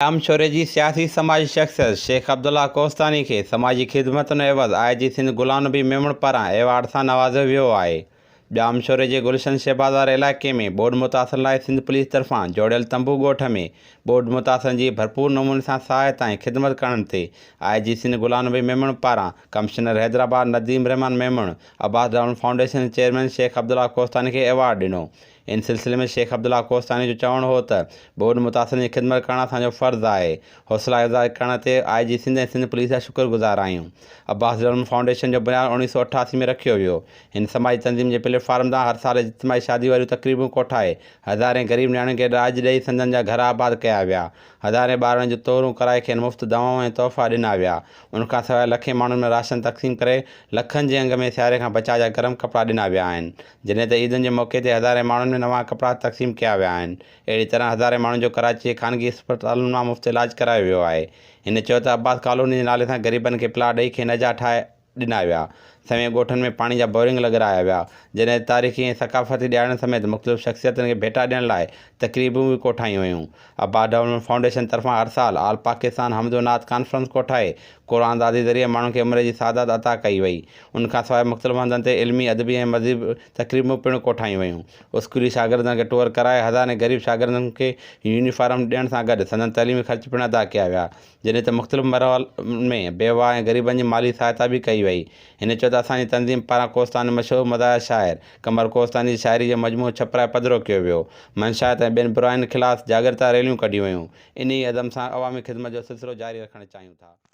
ڄامشوري جي سياسي سماجي شخصيت شيخ عبدالله ڪوهستاني کي سماجي خدمتن عيوض آء جي سنڌ غلام نبي ميمڻ پاران ايوارڊ سان نوازيو ويو آهي ڄامشوري جي گلشن شهبازار علائقي ۾ ٻوڏ متاثرن لاء سنڌ پوليس طرفان جوڙيل تنبو ڳوٺ ۾ ٻوڏ متاثرن جي ڀرپور نموني سان سهائتا ۽ خدمت ڪرڻ تي آء جي سنڌ غلام نبي ميمڻ پاران commissioner Hyderabad Nadeem Al-Rahman Memon Abbas Damon foundation chairman Sheikh Abdullah Kohistani کي ايوارڊ ڏنو ان سلسلي ۾ شيخ عبدالله ڪوهستاني جو چوڻ هو ته ٻوڏ متاثرن جي خدمت ڪرڻ اسان جو فرض آهي، حوصلا افزائي ڪرڻ تي آء جي سنڌ ۽ سنڌ پوليس جا شڪر گذار آهيون. عباس ڊولمن فائونڊيشن جو بنياد اوڻيهه سؤ اٺاسي ۾ رکيو ويو. هن سماجي تنظيم جي پليٽ فارم تان هر سال اجتماعي شادي واريون تقريبون ڪوٺائي هزارين غريب نياڻين کي ڏاج ڏئي سندن جا گهر آباد ڪيا ويا. هزارين ٻارڙن جون طهرون ڪرائي کين مفت دوائون ۽ تحفا ڏنا ويا. ان کان سواء لکين ماڻهن ۾ راشن تقسيم ڪري لکن جي انگ ۾ سياري کان بچاء جا گرم ڪپڙا ڏنا ويا آهن. جڏهن ته عيدن جي موقعي تي هزارين ماڻهن ۾ نوان ڪپڙا تقسيم ڪيا ويا آهن، اهڙي طرح هزارين ماڻهن جو ڪراچي جي خانگي اسپتالن مان مفت علاج ڪرايو ويو آهي. هن چيو ته عباس ڪالوني جي نالي سان غريبن کي پلاٽ ڏئي کين اجها ٺاهي ڏنا ويا، سوين ڳوٺن ۾ پاڻي جا بورنگ لڳرايا ويا، جڏهن ته تاريخي ۽ ثقافتي ڏهاڙن سميت مختلف شخصيتن کي ڀيٽا ڏيڻ لاء تقريبون به ڪوٺايون ويون، عباس ڊولپمينٽ فائونڊيشن طرفان هر سال آل پاڪستان حمد و نعت ڪانفرنس ڪوٺائي قرآن دادي ذريعي ماڻهن کي عمر جي سعادت عطا ڪئي وئي. ان کان سواء مختلف هنڌن تي علمي، ادبي ۽ مذهبي تقريبون پڻ ڪوٺايون ويون. اسڪولي شاگردن کي ٽوئر ڪرائي هزارين غريب شاگردن کي يونيفارم ڏيڻ سان گڏ سندن تعليمي خرچ پڻ ادا ڪيا ويا. جڏهن ته مختلف مرحلن ۾ بيواه ۽ غريبن جي مالي سهائتا به ڪئي وئي. هن چيو ته اسان جي تنظيم پاران ڪوستان جو مشهور مداح شاعر قمر ڪوستاني جي شاعري جو مجموعو ڇپرائي پڌرو ڪيو ويو. منشيات ۽ ٻين براين خلاص جاڳرتا ريليون ڪڍيون ويون. انهيء عزم سان عوامي خدمت جو سلسلو جاري رکڻ چاهيون ٿا.